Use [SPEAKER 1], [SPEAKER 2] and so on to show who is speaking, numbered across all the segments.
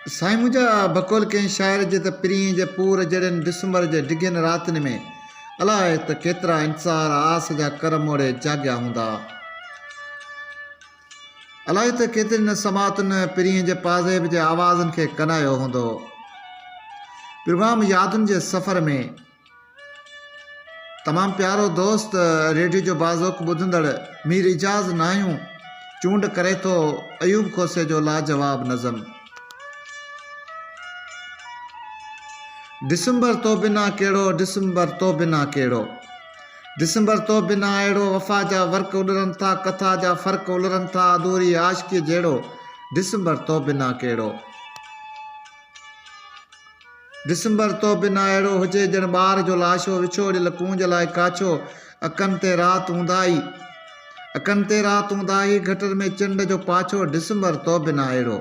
[SPEAKER 1] سائين منهنجا بقول ڪنهن شاعر جي ته پرينء جي پور جهڙين ڊسمبر جي ڊگهين راتين ۾ الاء ته ڪيترا انتظار آس جا ڪر موڙي جاڳيا هوندا. الاء ته ڪيترين سماعتن پرينء جي پازيب جي آوازن کي ڪنايو هوندو. پروگرام يادن جي سفر ۾. تمام پيارو دوست ريڊيو جو باذوق ٻڌندڙ مير اعجاز ناهيون چونڊ ڪري ٿو ايوب کوسي جو لاجواب نظم ڊسمبر تو بنا ڪهڙو ڊسمبر تو بنا ڪهڙو ڊسمبر تو بنا اهڙو وفا جا ورق اڏرن ٿا ڪٿا جا فرق الرن ٿا اڌوري عاشقي جهڙو ڊسمبر تو بنا ڪهڙو. ڊسمبر تو بنا اهڙو هجي ڄڻ ٻار جو لاشو وڇوڙيل ڪونج لاء ڪاڇو اکن تي رات اونداهي اکن تي رات اونداهي گٽر ۾ چنڊ جو پاڇو ڊسمبر تو بنا اهڙو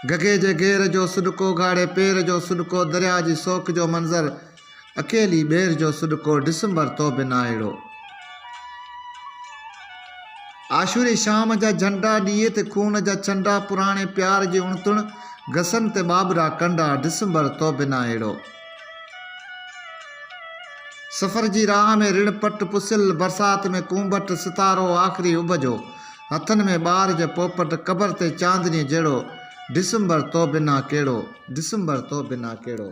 [SPEAKER 1] گگهي جي گير جو سڏڪو گهاڙي پير جو سڏڪو درياء جي سوڪ جو منظر اڪيلي ٻير جو سڏڪو ڊسمبر تو به ناهيڙو. عاشوري شام جا جهنڊا ڏيئي تي خون جا ڇنڊا پراڻي پيار جي اڻتڻ گسن تي ٻاٻرا ڪنڊا ڊسمبر تو به ناهيڙو. سفر جي راهه ۾ رڻ پٽ پسيل برسات ۾ ڪونڀٽ ستارو آخري اڀ جو هٿن ۾ ٻار جي پوپٽ قبر تي چاندني جهڙو ڊسمبر تو بنا ڪهڙو، ڊسمبر تو بنا ڪهڙو.